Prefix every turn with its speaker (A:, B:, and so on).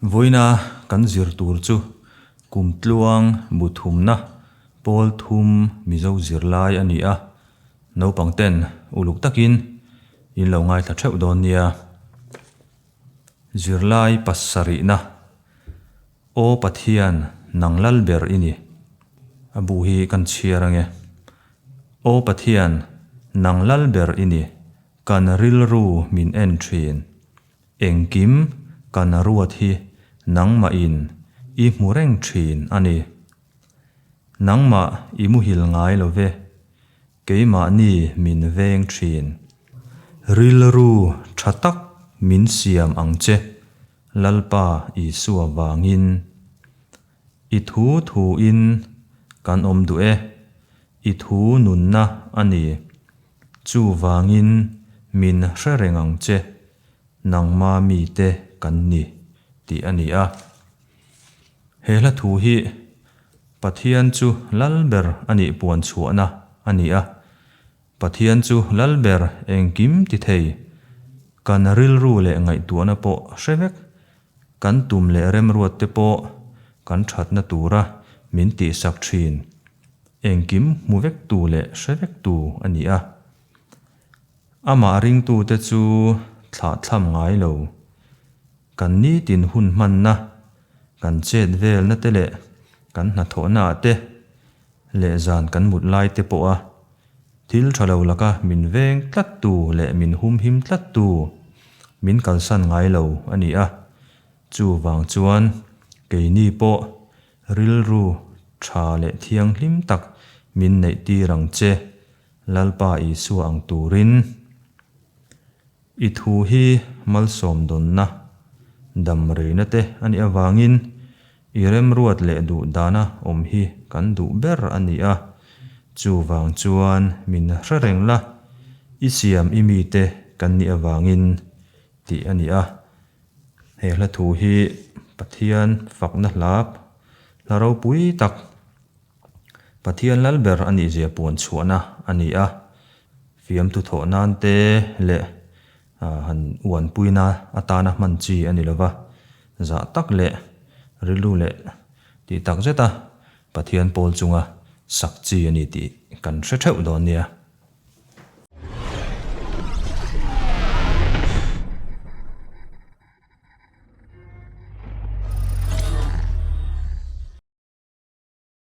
A: Vawiina kan zir tur chu kum tluang buthumna pawl thum mizo zirlai a ni a, naupangten uluk takin in lo ngaithla theuh dawn nia. Zirlai pasarihna, Aw Pathian nang lal ber i ni. A buh hi kan chhiar ange. Aw Pathian nang lal ber i ni, kan rilru min en thin. Engkim kan ruat hi nangmahin i hmu reng thin a ni. Nangmah i muhil ngai lo ve. Keimahni min veng thin. Rilru tha tak min siam ang che, Lalpa Isua vangin. I thu thu in kan awm duh e, I thu nunna a ni. Chuvangin min hre reng ang che, nangma mite kan ni, tih a ni a. He hla thu hi Pathian chu lal ber a nih puan chhuahna a ni a. Pathian chu lal ber engkim ti thei, kan rilru leh ngaihtuahna pawh hre vek, kan tum leh remruat te pawh kan thatna tura min tihsak thin, engkim hmu vek tu leh hre vek tu a ni a. Amah ringtute chu thlahthlam ngai lo. Kan nitin hun hmanna, kan chet velna te leh kan hnathawhna ah te leh zan kan mut lai te pawha thil tha lo laka min veng tlat tu leh min humhim tlat tu min kalsan ngai lo a ni a. Chuvang chuan keini pawh rilru tha leh thianghlim tak min neih tir ang che Lalpa Isua ang turin i thu hi malsawmdawnna dam reina te a nih avangin i remruat leh duh dana awm hi kan duh ber a ni a. Chuvang chuan min hre reng la, i siam i mite kan nih avangin tih a ni a. He hla thu hi Pathian fakna hla hla ropui tak Pathian lal ber a nih zia puan chhuahna a ni a, fiamthu thawh nan te leh han uanpuina atana hman chi a ni lo va, zah tak leh rilru leh tih tak zeta Pathian pawl chunga sak chi a ni tih kan hre theuh dawn nia.